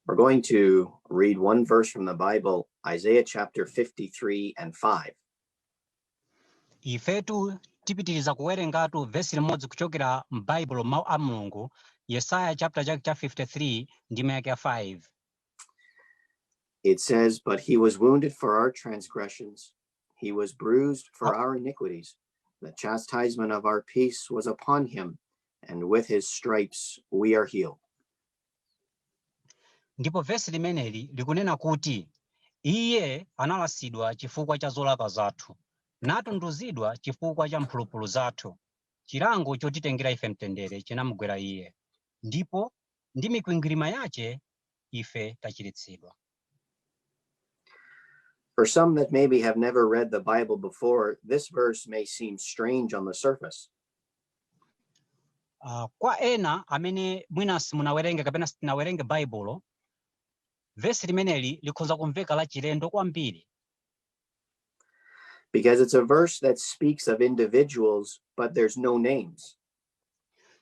We're going to read one verse from the Bible, Isaiah chapter 53 and 5. ifetu tipitiriza kuwerengatu vesi limodzi kuchokera m'baibulo mawu a mulungu yesaya chapter chake cha 53 ndime yake ya 5 It says, But he was wounded for our transgressions, He was bruised for our iniquities. The chastisement of our peace was upon him, and with his stripes we are healed. ndipo vesi limeneli likunena kuti iye analasidwa chifukwa cha zolakwa zathu natunduzidwa chifukwa cha mphulupulu zathu chilango chotitengera ife mtendere chinamugwera iye ndipo ndi mikwingwirima yace ife tachiritsidwa For some that maybe have never read the Bible before, this verse may seem strange on the surface. Uh, kwa ena amene mwina simunawerenge kapena sitinawerenge Baibulo, vesi limeneli likhoza kumveka lachilendo kwambiri. Because it's a verse that speaks of individuals, but there's no names.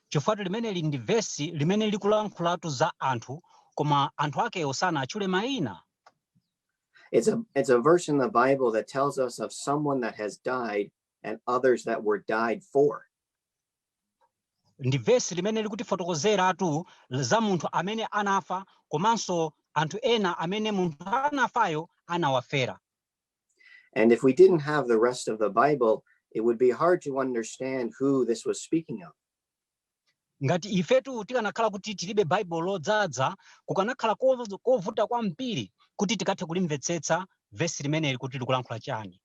Chifukwatu limeneli ndi vesi limene likulankhulatu za anthu koma anthu akewo sanawatchule mayina. It's a, it's a verse in the Bible that tells us of someone that has died and others that were died for. Ndi vesi limene likutifotokozeratu za munthu amene anafa komanso anthu ena amene munthu anafayo anawafera. And if we didn't have the rest of the Bible, it would be hard to understand who this was speaking of. ngati ifetu tikanakhala kuti tilibe baibulo lodzadza kukanakhala kovu- kovuta kwambiri kuti tikathe kulimvetsetsa vesi limeneli kuti likulankhula chani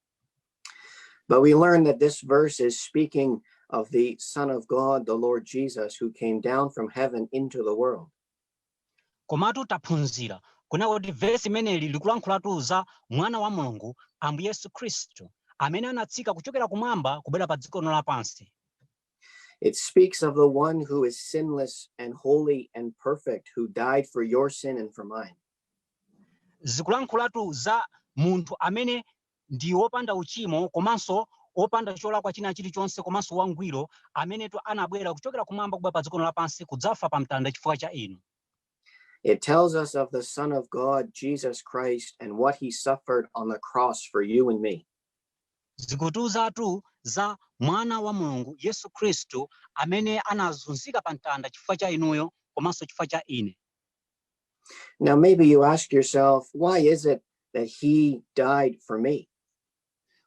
But we learn that this verse is speaking of the Son of God, the Lord Jesus, who came down from heaven into the world. Komatu taphunzira kunena kuti vesi limeneli likulankhulatu za Mwana wa Mulungu, Ambuye Yesu Khristu, amene anatsika kuchokera kumwamba kubwera padziko lino lapansi. It speaks of the one who is sinless and holy and perfect, who died for your sin and for mine. Zikulankhulatu za munthu amene ndi wopanda uchimo komanso wopanda cholakwa china chilichonse komanso wangwiro, amenetu anabwera kuchokera kumwamba kubwera padziko lino lapansi kudzafa pamtanda chifukwa cha inu. It tells us of the Son of God, Jesus Christ, and what he suffered on the cross for you and me. Zikutiuzatu za mwana wa Mulungu Yesu Khristu amene anazunzika pamtanda chifukwa cha inuyo komanso chifukwa cha ine. Now, maybe you ask yourself, why is it that he died for me?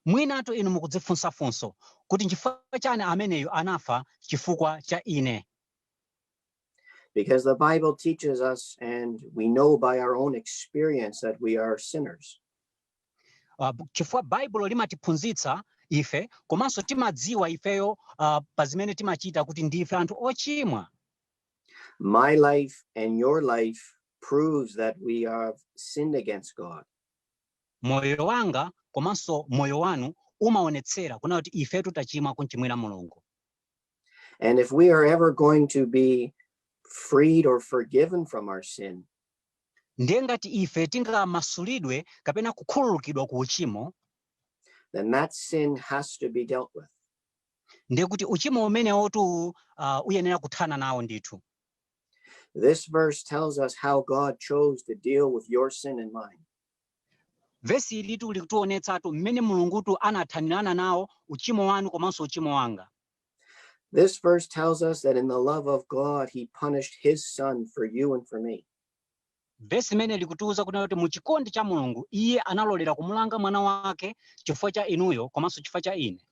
mwinatu inu mukudzifunsa funso kuti nchifukwa chani ameneyu anafa chifukwa cha ine Because the Bible teaches us, and we know by our own experience that we are sinners. uh, chifukwa baibulo limatiphunzitsa ife komanso timadziwa ifeyo uh, pa zimene timachita kuti ndife anthu ochimwa My life and your life proves that we have sinned against God. moyo wanga komanso moyo wanu umaonetsera kunena kuti ifetu tachimwa kumchimwira mulungu And if we are ever going to be freed or forgiven from our sin, ndiye ngati ife tingamasulidwe kapena kukhululukidwa ku uchimo then that sin has to be dealt with. ndiye kuti uchimo umenewotu uh, uyenera kuthana nawo ndithu This verse tells us how God chose to deal with your sin and mine. vesi ilitu likutionetsatu mmene mulungutu anathanirana nawo uchimo wanu komanso uchimo wanga This verse tells us that in the love of God, He punished His Son for you and for me. vesi limeneli likutiuza kunena kuti mu chikondi cha mulungu iye analolera kumulanga mwana wake chifukwa cha inuyo komanso chifukwa cha ine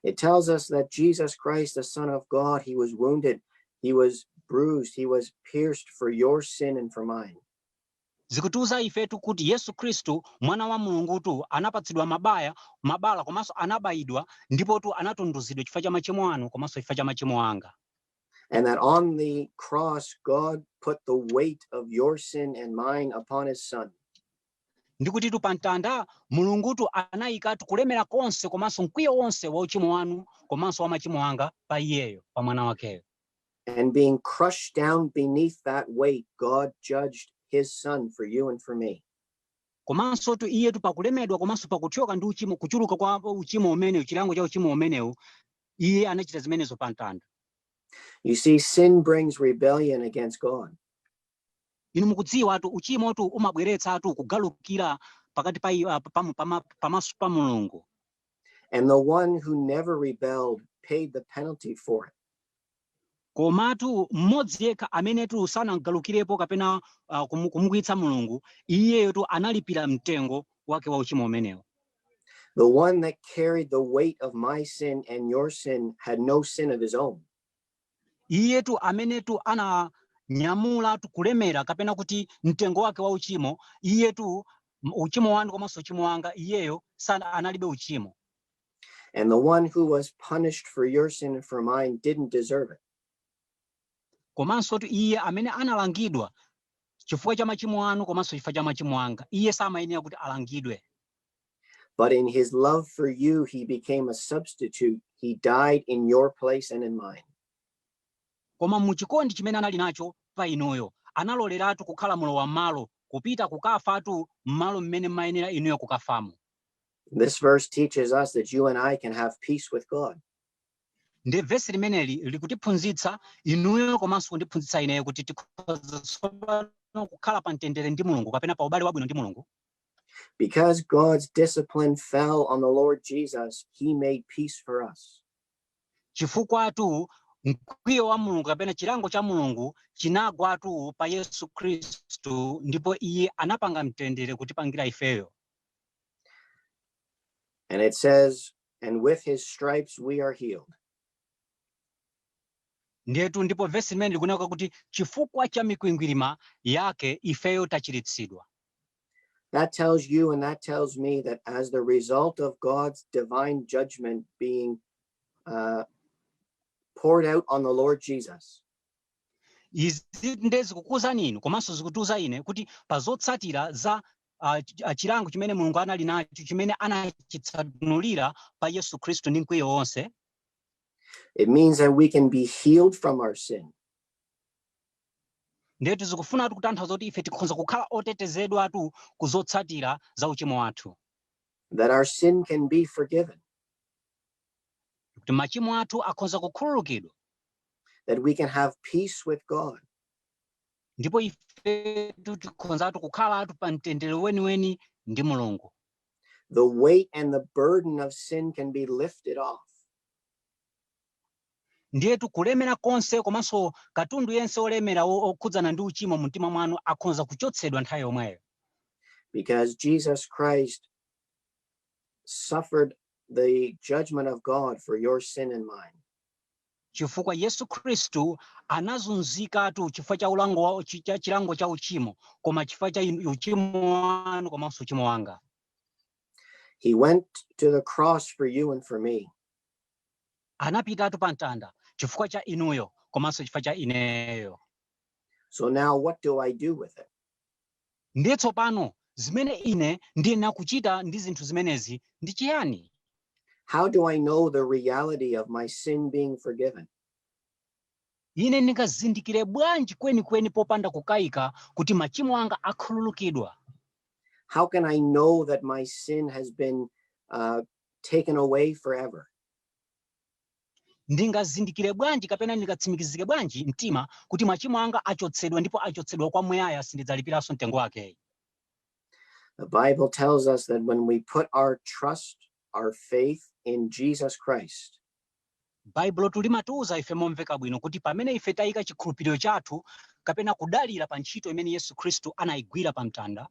It tells us that Jesus Christ, the Son of God, he was wounded, he was bruised, he was pierced for your sin and for mine. zikutiuza ifetu kuti yesu khristu mwana wa mulungutu anapatsidwa mabaya mabala komanso anabayidwa ndipotu anatunduzidwa chifukwa cha machimo anu komanso chifukwa cha machimo anga and that on the cross god put the weight of your sin and mine upon his son ndi kutitu pa mtanda Mulungutu anayikatu kulemera konse komanso mkwiyo wonse wa uchimo wanu komanso wa machimo anga pa Iyeyo, pa Mwana wakeyo. And being crushed down beneath that weight, God judged His Son for you and for me. komansotu iyetu pakulemedwa komanso pakuthyoka ndi uchimo kuchuluka kwa uchimo umenewu chilango cha uchimo umenewu iye anachita zimenezo pa mtanda You see, sin brings rebellion against God. Inu mukudziwatu, uchimotu umabweretsatu kugalukira pakati pa, i- ah, pa, pa, pa, pamaso pa Mulungu. And the one who never rebelled paid the penalty for it. komatu mmodzi yekha amenetu sanagalukirepo kapena uh, kumu- kumukwiyitsa mulungu iyeyotu analipira mtengo wake wa uchimo umenewo The one that carried the weight of my sin and your sin had no sin of his own. Iyetu amenetu ananyamula kulemera kapena kuti mtengo wake wa uchimo, iyetu uchimo wanu komanso uchimo wanga, iyeyo sanali analibe uchimo. And the one who was punished for your sin and for mine didn't deserve it. Komansotu iye amene analangidwa chifukwa cha machimo anu komanso chifukwa cha machimo anga, iye samayenera kuti alangidwe. But in his love for you, he became a substitute. He died in your place and in mine. koma mu chikondi chimene anali nacho pa inuyo analoleratu kukhala mulowa m'malo kupita kukafatu m'malo mmene mmayenera inuyo kukafamo This verse teaches us that you and I can have peace with God. ndi vesi limeneli likutiphunzitsa inuyo komanso kundiphunzitsa ineyo kuti tikhoza tsopano kukhala pa mtendere ndi mulungu kapena pa ubale wabwino ndi mulungu Because God's discipline fell on the Lord Jesus, he made peace for us. chifukwatu mkwiyo wa mulungu kapena chilango cha mulungu chinagwatu pa yesu khristu ndipo iye anapanga mtendere kutipangira ifeyo And it says, and with his stripes we are healed. Ndiyetu ndipo vesi limeneli likunena kuti chifukwa cha mikwingwirima Yake ifeyo tachiritsidwa. That tells you and that tells me that as the result of God's divine judgment being uh, poured out on the Lord Jesus. Izi nde zikukuuzani inu komanso zikutiuza ine kuti pa zotsatira za uh, chilango chimene Mulungu anali nacho chimene anachitsanulira pa Yesu Khristu ndi mkwiyo wonse. It means that we can be healed from our sin. ndetu zikufunatu kutanthauza kuti ife tikhonza kukhala otetezedwatu ku zotsatira za uchimo wathu that our sin can be forgiven kuti machimo athu akhonza kukhululukidwa that we can have peace with god ndipo ifetu tikhonzatu kukhalatu pa mtendere weniweni ndi mulungu The weight and the burden of sin can be lifted off. ndiyetu kulemera konse komanso katundu yense olemera o- okhudzana ndi uchimo mu mtima mwanu akhonza kuchotsedwa nthawi yomweyo because Jesus Christ suffered the judgment of God for your sin and mine. chifukwa Yesu Khristu anazunzikatu chifukwa cha ulango wa, chi- cha chilango cha uchimo koma chifukwa cha inu- uchimo wanu komanso uchimo wanga He went to the cross for you and for me. anapitatu pa mtanda chifukwa cha inuyo komanso chifukwa cha ineyo So now what do I do with it? Ndiye tsopano, zimene ine ndiyenera kuchita ndi zinthu zimenezi ndi chiyani? How do I know the reality of my sin being forgiven? Ine ndingazindikire bwanji kwenikweni popanda kukaika kuti machimo anga akhululukidwa? How can I know that my sin has been uh, taken away forever? Ndingazindikire bwanji kapena ndingatsimikizike bwanji mtima kuti machimo anga achotsedwa ndipo achotsedwa kwa muyaya sindidzalipiranso mtengo wake? The Bible tells us that when we put our trust, our faith in Jesus Christ, Baibulotu limatiuza ife momveka bwino kuti pamene ife tayika chikhulupiriro chathu kapena kudalira pa ntchito imene Yesu Khristu anayigwira pa mtanda,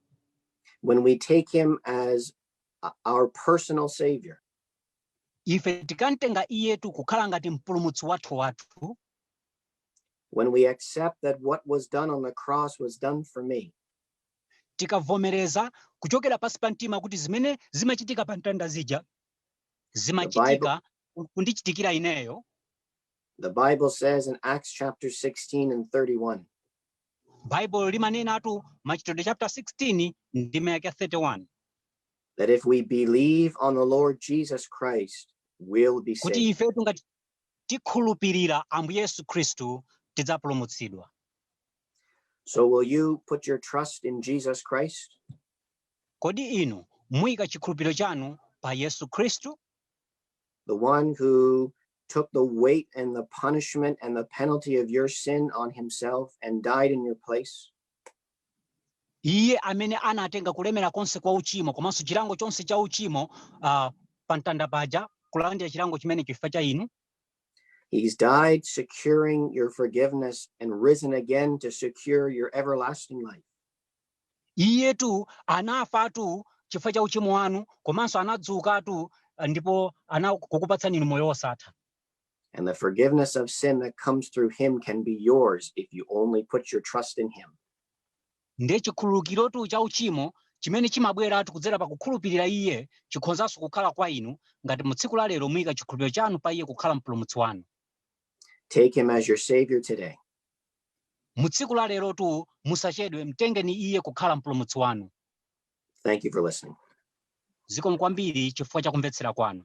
when we take him as our personal savior, ife tikamtenga iyetu kukhala ngati mpulumutsi wathu wathu when we accept that what was done on the cross was done for me tikavomereza kuchokera pansi pa mtima kuti zimene zimachitika pa mtanda zija zimachitika kundichitikira ineyo the bible says in acts chapter 16 and 31 baibulo limanenatu machitidwe chapter 16 ndime yake 31 that if we believe on the Lord Jesus Christ, we'll be kuti saved. ifetu ngati tikhulupirira ambuye yesu khristu tidzapulumutsidwa So will you put your trust in Jesus Christ? kodi inu muyika chikhulupiriro chanu pa yesu khristu the one who took the weight and the punishment and the penalty of your sin on himself and died in your place? Iye amene anatenga kulemera konse kwa uchimo komanso chilango chonse cha uchimo uh, pa mtanda paja, kulandira chilango chimene chifukwa cha inu. He's died securing your forgiveness and risen again to secure your everlasting life. Iyetu anafatu chifukwa cha uchimo wanu komanso anadzukatu ndi pokukupatsani inu moyo wosatha. And the forgiveness of sin that comes through him can be yours if you only put your trust in him. ndiye chikhululukirotu cha uchimo chimene chimabweratu kudzera pa kukhulupirira iye chikhonzanso kukhala kwa inu ngati mu tsiku la lero muyika chikhulupiriro chanu pa iye kukhala mpulumutsi wanu Take him as your savior today. mu tsiku la lerotu musachedwe mtengeni iye kukhala mpulumutsi wanu Thank you for listening. zikomo kwambiri chifukwa cha kumvetsera kwanu